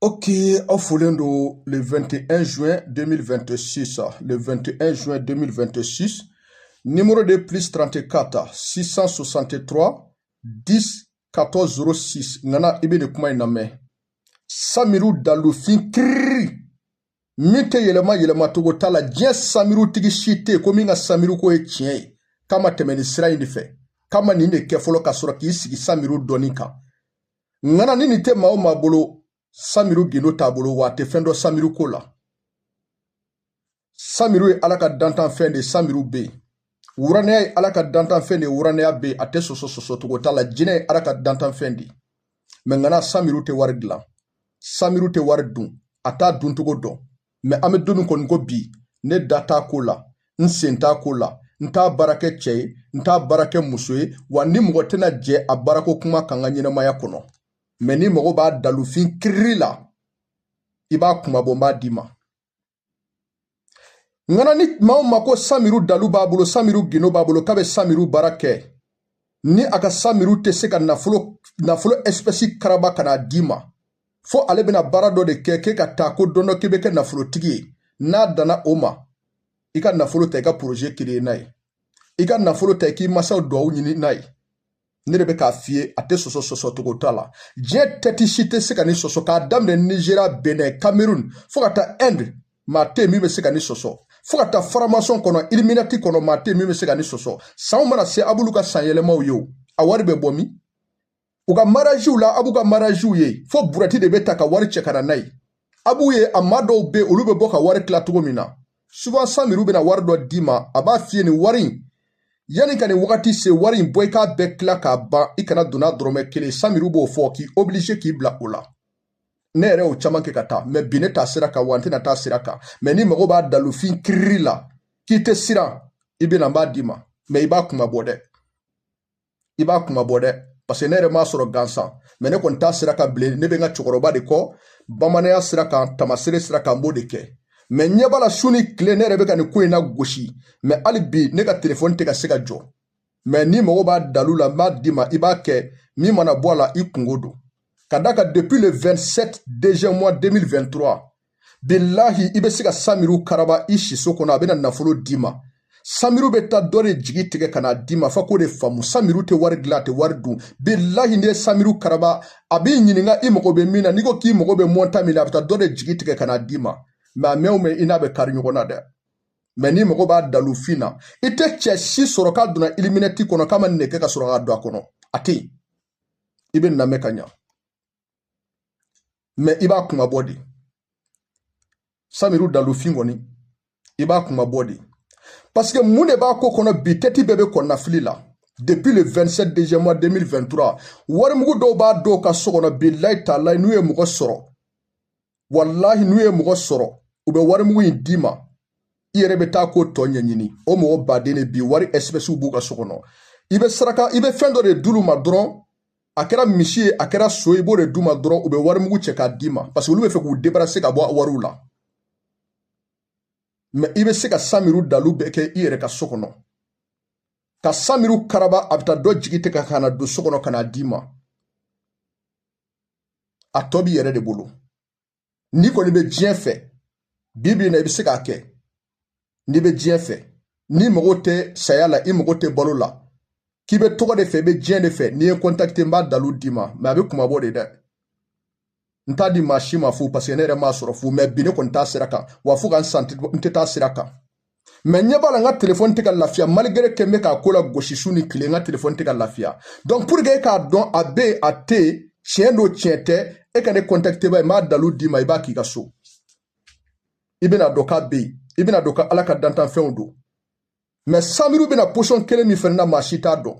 Ok, aw folen don le 21 juin 2026 le 21 juin 2026 numéro de plus 34 663 10 14 06 ŋana i bɛ nin kuma in lamɛn samiru dalufin kiriri min tɛ yɛlɛma yɛlɛmacogo t'a la diɲɛ samirutigi si tɛ yen ko min ka samiru ko ye tiɲɛ ye k'a ma tɛmɛ nin sira in de fɛ k'a ma nin de kɛ fɔlɔ ka sɔrɔ k'i sigi samiru dɔnni kan ŋana ni nin tɛ maa o maa bolo samiru gindo t'a bolo wa a tɛ fɛn dɔn samiru ko la samiru ye ala ka dantanfɛn de samiru bɛ yen wuranɛya ye ala ka dantanfɛn de wuranɛya bɛ yen a tɛ sɔsɔ sɔsɔcogo t'a la jinɛ ye ala ka dantanfɛn de mɛ ŋana samiru tɛ wari dilan samiru tɛ wari dun a t'a duncogo dɔn mɛ an bɛ don min kɔnɔ i ko bi ne da t'a ko la n sen t'a ko la n t'a baara kɛ cɛ ye n t'a baara kɛ muso ye wa n ni mɔgɔ tɛna jɛ a baarako kuma kan n ka ɲɛnamaya kɔnɔ mɛ n'i mago b'a dalufin kiriri la i b'a kunmabɔ n b'a d'i ma ŋana ni maa o maa ko samiru dalu b'a bolo samiru gindo b'a bolo k'a bɛ samiru baara kɛ ni a ka samiru tɛ se ka nafolo espɛsi karaba ka n'a d'i ma fo ale bɛna baara dɔ de kɛ k'i ka taa ko don dɔ k'i bɛ kɛ nafolotigi ye n'a danna o ma i ka nafolo ta i ka poroze kiri n'a ye i ka nafolo ta i k'i masaw duwawu ɲini n'a ye ne de bɛ k'a f'i ye a tɛ sɔsɔ sɔsɔ cogo t'a la diɲɛ tɛti si tɛ se ka nin sɔsɔ k'a daminɛ nizeriya benɛ kamerun fo ka taa ɛnde maa tɛ min bɛ se ka nin sɔsɔ fo ka taa faramasɔn kɔnɔ iliminati kɔnɔ maa tɛ min bɛ se ka nin sɔsɔ sanw mana se a b'olu ka sanyɛlɛmaw ye o a wari bɛ bɔ min u ka maraziw la a b'u ka maraziw ye fo burɛti de bɛ ta ka wari cɛ ka na n'a ye a b'u ye a maa dɔw bɛ olu bɛ bɔ ka wari tila cogo min na souvent samiru bɛna wari dɔ d'i ma a b'a f'i ye nin wari in yanni ka nin wagati se wari in bɔ i k'a bɛɛ tila k'a ban i kana don n'a dɔrɔmɛ kelen samiru b'o fɔ k'i obliger k'i bila o la ne yɛrɛ y'o caman kɛ ka taa mɛ bi ne t'a sira kan wa n tɛna taa sira kan mɛ n'i mago b'a dalufin kiriri la k'i tɛ siran i bɛna n b'a d'i ma mɛ i b'a kunmabɔ dɛ i b'a kunmabɔ dɛ paseke ne yɛrɛ m'a sɔrɔ gansan mɛ ne kɔni t'a sira kan bilen ne bɛ n ka cɛkɔrɔba de kɔ bamananya sira kan tamasere sira kan n b'o de kɛ mɛ ɲɛ b'a la su ni tile ne yɛrɛ bɛ ka nin ko in lagosi mɛ hali bi ne ka telefɔni tɛ ka se ka jɔ mɛ n'i mago b'a dalu la n b'a d'i ma i b'a kɛ min mana bɔ a la i kungo don ka d'a kan depuis le 27 deuxième mois 2023 bilahi i bɛ se ka samiru karaba i siso kɔnɔ a bɛna nafolo d'i ma samiru bɛ taa dɔ de jigi tigɛ ka n'a d'i ma fo k'o de faamu samiru tɛ wari dilan a tɛ wari dun bilahi n'i ye samiru karaba a b'i ɲininka i mago bɛ min na n'i ko k'i mago bɛ montant min na a bɛ taa dɔ de jigi tigɛ ka n'a d'i ma mais a mɛn o mɛn i n'a bɛ kari ɲɔgɔn na dɛ mais n'i mago b'a dalufin na i tɛ cɛ si sɔrɔ k'a donna Illuminati kɔnɔ k'a ma nin de kɛ ka sɔrɔ k'a don a kɔnɔ a tɛ yen i bɛna mɛn ka ɲa mais i b'a kunmabɔ de samiru dalufin kɔni i b'a kunmabɔ de parce que mun de b'a ko kɔnɔ bi tɛti bɛɛ bɛ kɔnɔnafili la depuis le 27 décembre 2023 warimugu dɔw b'a dɔw ka so kɔnɔ bilayi taalayi n'u ye mɔgɔ sɔrɔ walahi n'u ye mɔgɔ sɔrɔ u bɛ warimugu in d'i ma i yɛrɛ bɛ taa ko tɔ ɲɛɲini o mɔgɔ baden de bi wari espèces b'u ka so kɔnɔ i bɛ saraka i bɛ fɛn dɔ de d'olu ma dɔrɔn a kɛra misi ye a kɛra so i b'o de d'u ma dɔrɔn u bɛ wari mugu cɛ k'a d'i ma parce que olu bɛ fɛ k'u débarrasser ka bɔ a wariw la mais i bɛ se ka samiru dalu bɛɛ kɛ i yɛrɛ ka so kɔnɔ ka samiru karaba a bɛ taa dɔ jigi tigɛ ka na don so kɔnɔ ka n'a d'i ma a tɔ b'i yɛrɛ de bolo n'i kɔni bɛ diɲɛ fɛ bi bi in na i bɛ se k'a kɛ n'i bɛ diɲɛ fɛ n'i mago tɛ saya la i mago tɛ balo la k'i bɛ tɔgɔ de fɛ i bɛ diɲɛ de fɛ n'i ye n contacter n b'a dalu d'i ma mais a bɛ kunmabɔ de dɛ n t'a di maa si ma fu parce que ne yɛrɛ m'a sɔrɔ fu mais bi ne kɔni t'a sira kan wa fo ka n sa n tɛ taa sira kan mais n ɲɛ b'a la n ka telefɔni tɛ ka lafiya malgré que n bɛ k'a ko lagosi su ni tile n ka telefɔni tɛ ka lafiya donc pour que e k'a dɔn a bɛ yen a tɛ yen tiɲɛ don tiɲɛ tɛ e ka ne contacte ba ye n b'a dalu d'i ma i b'a k'i ka so i bɛna dɔn k'a bɛ yen i bɛna dɔn ka ala ka dantanfɛnw don mais samiru bɛ na position kelen min fana na maa si t'a dɔn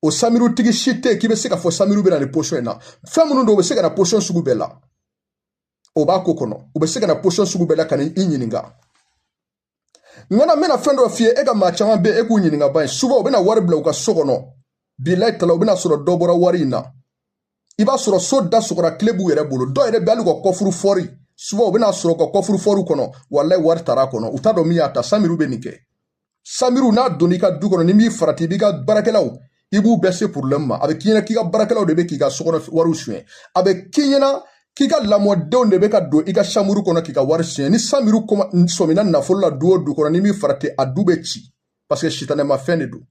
o samirutigi si tɛ yen k'i bɛ se k'a fɔ samiru bɛ na nin position in na fɛn minnu don u bɛ se ka na position sugu bɛɛ la o b'a ko kɔnɔ u bɛ se ka na position sugu bɛɛ la ka n'i ɲininka ŋana n bɛna fɛn dɔ f'i ye e ka maa caman bɛ yen e k'u ɲininka ba ye souvent u bɛna wari bila u ka so kɔnɔ bilayi tala u bɛna sɔrɔ dɔ bɔra wari in na i b'a sɔrɔ so da sɔgɔra kile b'u yɛrɛ bolo dɔw yɛrɛ bɛ hali ka coffre-fort souvent u bɛna sɔrɔ ka coffre-fort kɔnɔ walayi wari tara kɔnɔ u t'a dɔn min y'a ta samiru bɛ nin kɛ samiru n'a donna i ka du kɔnɔ n'i m'i farati i b'i ka baarakɛlaw i b'u bɛɛ se porobilɛmu ma a bɛ k'i ɲɛna k'i ka baarakɛlaw de bɛ k'i ka sokɔnɔ wariw suɲɛ a bɛ k'i ɲɛna k'i ka lamɔdenw de bɛ ka don i ka chambre kɔnɔ k'i ka wari suɲɛ ni samiru sɔmina nafolo la du o du kɔnɔ n'i m'i farati a du bɛ ci parce que sitanɛma fɛn de don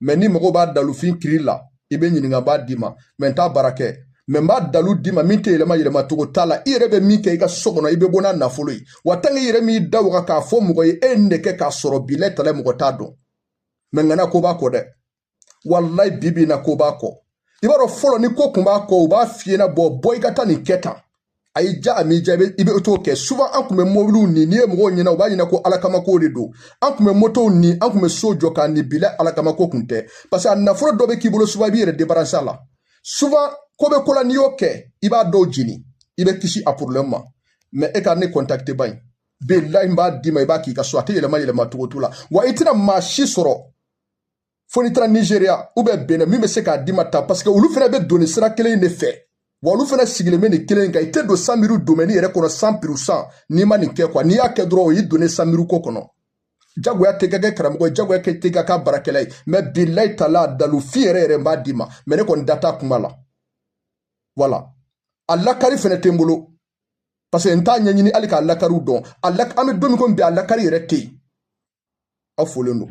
mais n'i mago b'a dalufin kiri la i bɛ n ɲininka n b'a d'i ma mais n t'a baara kɛ mais n b'a dalu d'i ma min tɛ yɛlɛma yɛlɛma cogo t'a la i yɛrɛ bɛ min kɛ i ka so kɔnɔ i bɛ bɔ n'a nafolo ye wa tant que i yɛrɛ m'i da waga k'a fɔ mɔgɔ ye e ye nin de kɛ k'a sɔrɔ bilahi talahi mɔgɔ t'a dɔn mais ŋana ko b'a kɔ dɛ walayi bi bi in na ko b'a kɔ i b'a dɔn fɔlɔ ni ko kun b'a kɔ u b'a f'i ye na bɔ bɔ i ka taa nin kɛ tan a y'i ja a m'i ja i bɛ i bɛ t'o kɛ souvent an tun bɛ mobiliw ni n'i ye mɔgɔw ɲɛna u b'a ɲɛna ko alakamako de don an tun bɛ motow ni an tun bɛ so jɔ k'a ni bilayi alakamako kun tɛ parce que a nafolo dɔ bɛ k'i bolo souvent i b'i yɛrɛ débarrasser a la souvent ko bɛ ko la n'i y'o kɛ i b'a dɔw jeni i bɛ kisi a problème ma mais e ka ne contacter ba in bilayi n b'a d'i ma i b'a k'i ka so a tɛ yɛlɛma yɛlɛma cogo t'o la wa i tɛna maa si sɔrɔ fo n'i taara nigeria ou bien bénin min bɛ se k'a d'i ma ta parce que olu fana bɛ don nin sira kelen in de fɛ wa olu fana sigilen bɛ nin kelen kan i tɛ don samiru domaine yɛrɛ kɔnɔ cent pour cent n'i ma nin kɛ quoi n'i y'a kɛ dɔrɔn o y'i donnen samiru ko kɔnɔ jagoya tɛ kɛ karamɔgɔ ye jagoya tɛ ka kɛ baarakɛla ye mais bilayi taala dalu fin yɛrɛ yɛrɛ n b'a d'i ma mais ne kɔni da t'a kuma la voilà a lakari fana tɛ n bolo parce que n t'a ɲɛɲini hali k'a lakariw dɔn an bɛ don min komi bi a lakari yɛrɛ tɛ yen aw folen don